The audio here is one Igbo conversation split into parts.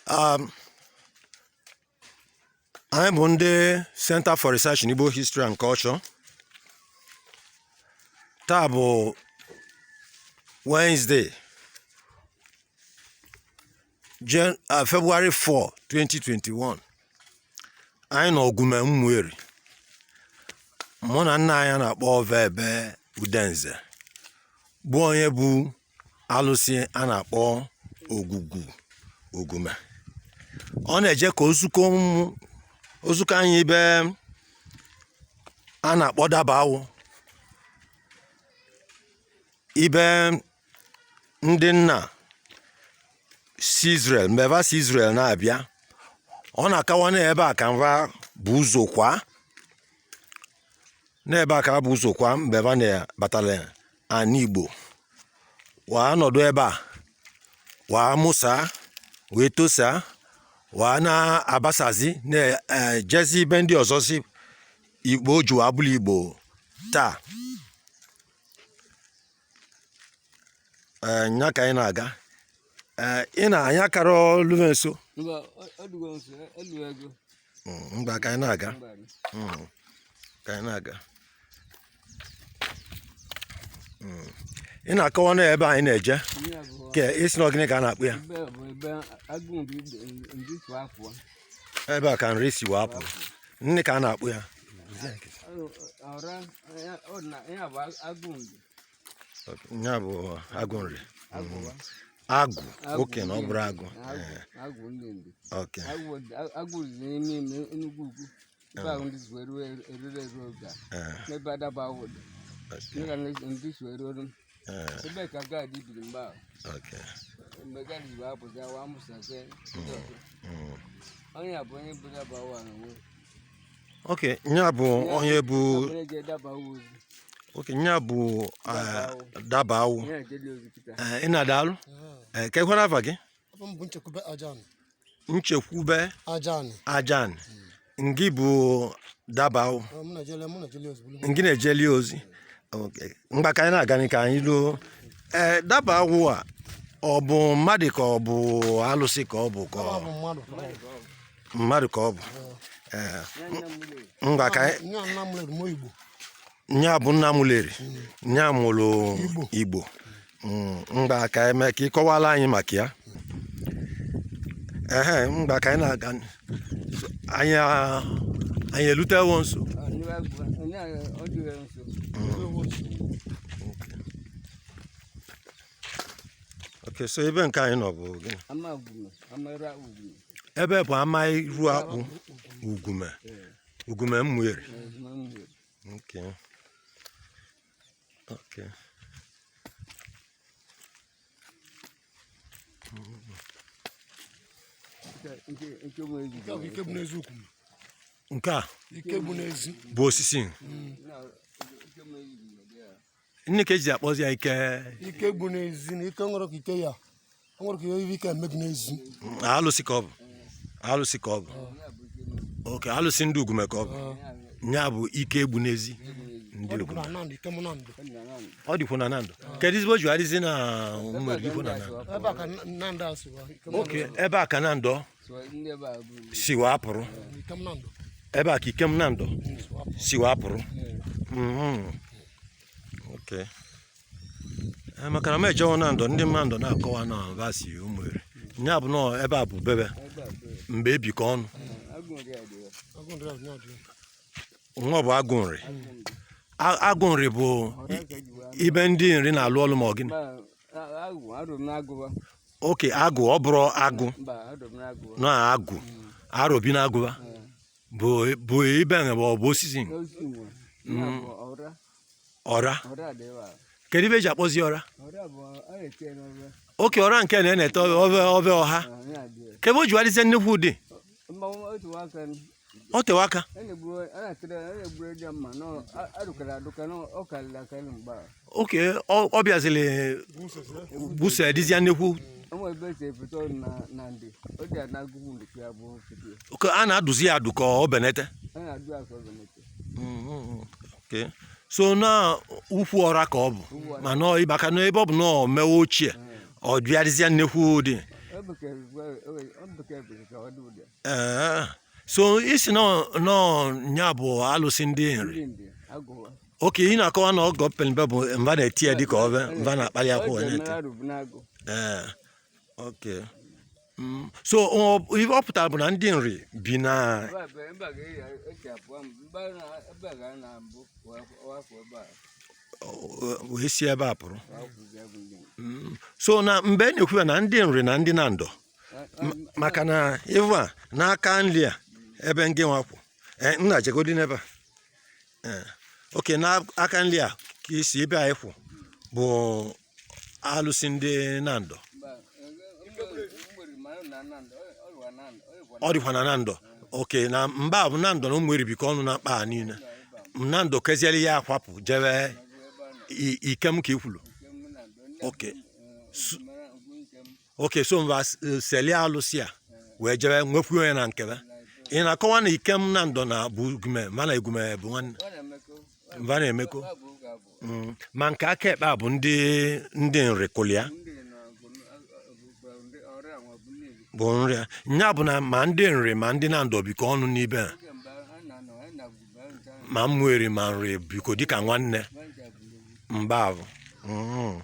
um, anyị bụ ndị Center for Research in Igbo History and Culture taa bụ Wednesday Jen uh, February 4 2021 anyị nọ Ogume Mmụeri mụ na nna anyị a na-akpọ Vebe Udenze bụ onye bụ alụsị a na-akpọ Ogwugwu Ogume ọ na-eje ka o zuko ụmụ- o zuko anyị ibe a na-akpọ Dabawụ ibe ndị nna si Israel mgbe va si Israel na-abịa ọ na-akawa na ebe a ka va bu ụzọ kwa n'ebe a ka a bu ụzọ kwa mgbe va na-batala ana Igbo waa nọdụ ebe a waa mụsa wee tosa waa na-abasazi na-ejezi ibe ndị ọzọzị Igbo ji waa bụla Igbo taa ee nya ka anyị na-aga ee ị na anyị akarọ luve nso Mba, ọ- ọ dịgo nso, ọ- ọ dịgo ego. ngwa hmm, ka anyị na-aga hmm, ka anyị na-aga hmm. ị na-akọwa na ebe anyị na-eje ke ị sị na gịnị ka a na-akpọ ya ebe a ka Nri si waa pụ gịnị ka a na-akpọ ya nya bụ Agụ Nri agụ oke na ọ bụrụ agụ oke agụ riri n'ime Enugu ugwu ebe ahụ ndị zuo eruo erure eruo oge a n'ebe Dabawụ dị ndị ga ndị zuo eruo ebe ka Gaadị biri mgbe ahụ mgbe Gaadị bụ abụzi awa amụsazie onye a bụ onye bụ Dabawụ n'onwe okay nya bụ onye bụ okay nya bụ eh, Dabawụ Eh, nna daalụ Eh, kekwanụ ava gị Ava m bụ Nchekwube Ajan. Nchekwube Ajan. Ajan ngị bụ Dabawụ Ọ, mụ na-ejeli, mụ na-ejeli ozi. ngị na-ejeli ozi Okay. ngwa ka anyị na-aga ka anyị luo ee Dabawụ a ọ bụ mmadụ ka ọ bụ alụsị ka ọ bụ ka Ọ ọ bụ mmadụ. mmadụ ka ọ bụ Ee, ngwa ka anyị- nya bụ nna Ụmụleri nya mụrụ Igbo Mm, ngwa ka eme ka ị kọwala anyị maka ya ehe ngwa ka anyị na-aga n- so- anyị a- anyị elutewo nso okay so ebe nke anyị nọ bụ gịnị ebe bụ ama iru akpụ Ugume Ugume Ụmụeri okay okay nke a bụ osisi nne ka eji akpọzi ya ike ike egbu n'ezi na ike nwere ka ike ya o nwere ka ihe ike eme gị n'ezi alụsị ka ọ bụ alụsị ka ọ bụ okay alụsị ndị Ugume ka ọ bụ ya bụ ike egbu n'ezi ndị ọ dịkwu Ugume na Nando Ikem Nando ọ dịkwu na Nando kedu ezigbo ji adịzi na Ụmụeri dịkwu na Nando ebe a ka Nando si wa Ikem okay ebe a ka Nando ọ si wapụrụ ebe a ka Ikem Nando si wapụrụ mhm. eh, maka na m ejewo Nando ndị Nando na-akọwa na va si Ụmụeri ya bụ na ebe a bụ bebe mgbe ebikọ ọnụ nwa bụ agụ Nri agụ Nri bụ ibe ndị Nri na-alụ ọlụ ma ọ gịnị okay agụ ọ bụrọ agụ na agụ arobi na agụ va bụ ibe na ọ bụ osisi mm. ọra kedu ive eji akpọzi ọra okay ọra nke na-ete ove ọha ke ive o ji adịzie nnukwu ụdị ọ tewe aka okay ọ bịaziri busa dịzịa nnekwu okay a na-adụzi ya adụ ka ọ benete so na ukwu ọra ka ọ bụ mana ịbaka n'ebe ọ bụ na ọ mewe ochie ọ bịa dịzịa nnekwu ụdị Ee, so ị sị nọ nya bụ alụsị ndị Nri okay ị na-akọwa na oge ọ peli mpe bụ va na-eti ya dịka ọbe va na-akpali akwụ wee na-eti ee okay Mm, so ọ- ihe ọ pụtara bụ na ndị Nri bi na wee si ebe a pụrụ Mm, so na mgbe e na-ekwu ya na ndị Nri na ndị Nando maka na ịvụ a n'aka nri a ebe ngị nwa kwụ eh, nna jegodi n'ebe a eh, okay n'aka nri a ka ị sị ebe anyị kwụ bụ alụsị ndị nandọ ọ dịkwa na nandọ okay na mgbe ahụ nandọ na ụmụeri bikọ ọnụ na mkpa niile nandọ kezieli ya akwapụ jewe ikem ka i kwulu okay okay so va seli alụsị a wee jebe nwekwu onye na nke ve ị na-akọwa na ikem nandọ na bụ ugume mana ugume bụ nwanne va na-emekọ mm, ma nke aka ekpe a bụ ndị ndị nri kụlịa bụ nri a ya bụ na ma ndị nri ma ndị nandọ bikọ ọnụ n'ibe a ma ụmụeri ma nri bikọ dịka nwanne mgbe ahụ mm.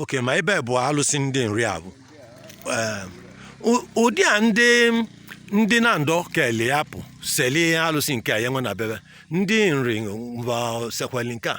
okay ma ebe bụ alụsị ndị nri ahụ ụdị a ndị ndị nandọ kele ya pụ seli alụsị nke a jewe na be ve ndị nri nwa sekweli nke a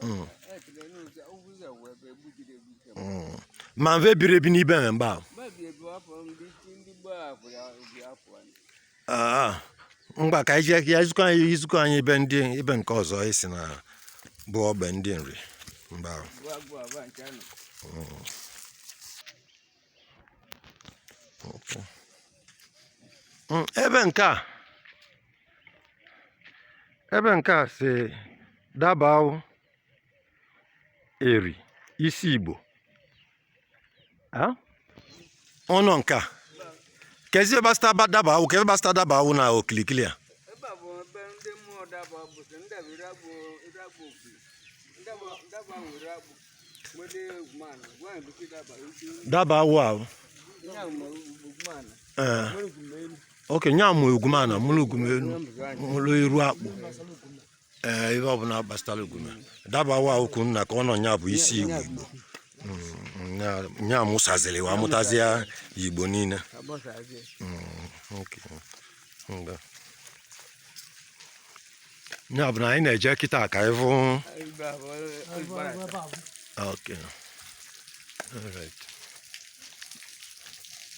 Mm. Mm. ma ve biri ebi n'ibe a mgbe ahụ Ah, ngwa ka anyị jee ka i zi i zikwuo anyị ebe ndị ebe nke ọzọ ị sị na bụ ogbe ndị nri mgbe ahụ Hmm, ebe nke a ebe nke a sị dabawọ eri isi igbo ọnụ nke a kezi ihe gbasata dabawọ ka ihe gbasata dabawọ na okilikili a dabawọ ahụ ee okay nya mụ ugumeana mụlụ ugumeenu mụlụ iru akpụ ee ihe ọbụla gbasara ugume dabawọ ahụ kwuru na ka ọ nọ nya bụ isi igbo igbo Mm, nya- nya mụsazili ụwa mụtazịa igbo niile Mm, okay. Nga. nya bụ na anyị na-eje kịta ka anyị fụ okay all right